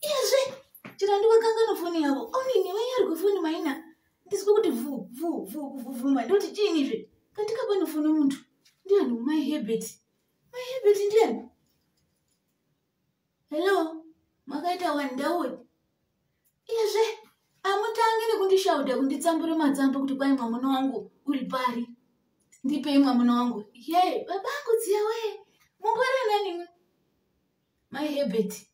izvi chirandi wakanganwa foni yavo onini vaiya ari kwefoni maina ndizwe kuti vu vu vu kuvhuvhuma ndoti chiini izvi katika pane foni muntu ndiani mai hebert mai hebert ndiani hello makaita wani ndauwe izvi amutange nekundishauda kunditsambure matsamba kuti kwai mwamuna wangu uri pari ndipei mwamuna wangu ye babangu dziya wee mungwarira nanimwe mai hebert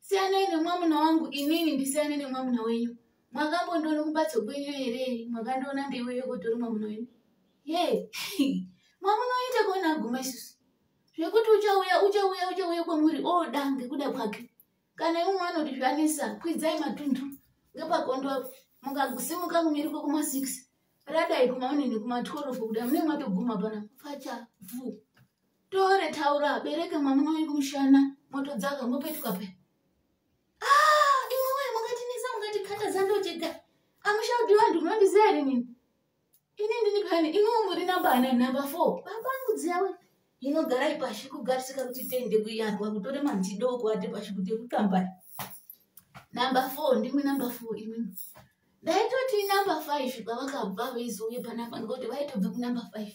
siyanai nemwamuna wangu inini ndisiyane nemwamuna wenyu mwakambondiona kumbatso kwenyu here mwakandiona ndeiweyo kutori mwamuna wenyu ye mwamuna wenyu takaona aguma isusu zvekuti uchauya uchauya uchauya kwamuri oda oh, ngekuda kwake kana imwe mwana kuti zvanisa kwidzai matundu ngepakondo mukagusimuka kumiri kwekuma six radai kumaonini kuma twelve kuda mune mwatoguma pana facha vu tore taura bereka mwamuna wenyu kumushana motodzaka mopetuka pe ah, imwe wayo mungatinisa mungatikata zandojega amushaudi vanhu munondiziva here nini ini ndini pani iniwo muri namba ana namba four babangu dziyawe inogara ipashi kugarisika kuti tende kuyandwa kutore manzidoko ati pashi kuti kutambari namba four ndimwe namba four imwimwe ndaitoti number five pavakabva vaizouye panapa ngokuti vaitobve kunumber five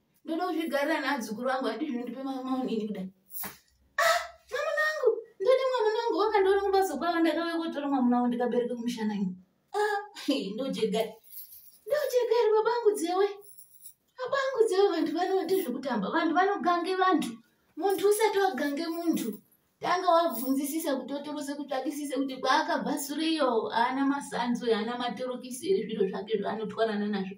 ndoda kuzvigarira naadzukuru vangu ati zvinondipe mamaunini kudai ah, mwamuna wangu ndode mwamuna wangu wakandiona kumbatso kwavo ndakauya kotora mwamuna wangu ndikabereka kumushana ini ah, ndojegari ndojegari babangu dzewe babangu dzewe vantu vanoite zvekutamba vantu vanogange vantu muntu usati wagange muntu tanga wabvunzisisa kuti otorose kuti akisise kuti kwaakabva suriyo haana masanzo haana matorokisi here zviro zvake zvaanotwanana nazvo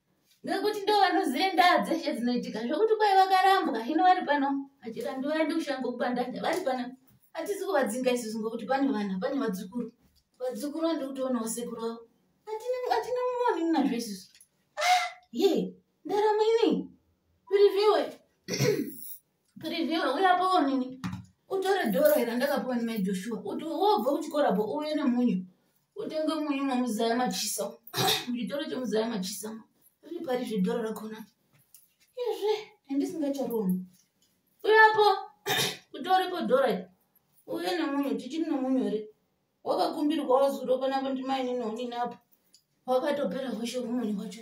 ngekuti ndo vanoziva ndaa dzeshe dzinoitika zvokuti kwai vakarambwa hino vari pano achirambi vaende kushanga kubandanda vari pano hatisi kuvadzinga isusu ngokuti pane vana pane vadzukuru vadzukuru vandi kutoonawo sekuru vavo hatina mumoni nazvo isusu ah, ye ndaramo ini piriviwe piriviwe uyapawo nini utore doro ira ndakapiwa nemai joshua uti wobva kuchikora bo uve nemunyu utenge munyu mamuzaya machisa muchitoro chemuzaya machisa riri pari zvedhora rakona izve handisingacharona uyapo kutoripo dhora uye nemunhu tichiri nemunhu here wakakumbirwa wazuro panapo ndimainini onini apo wakatopera hoshe kumuni kwacho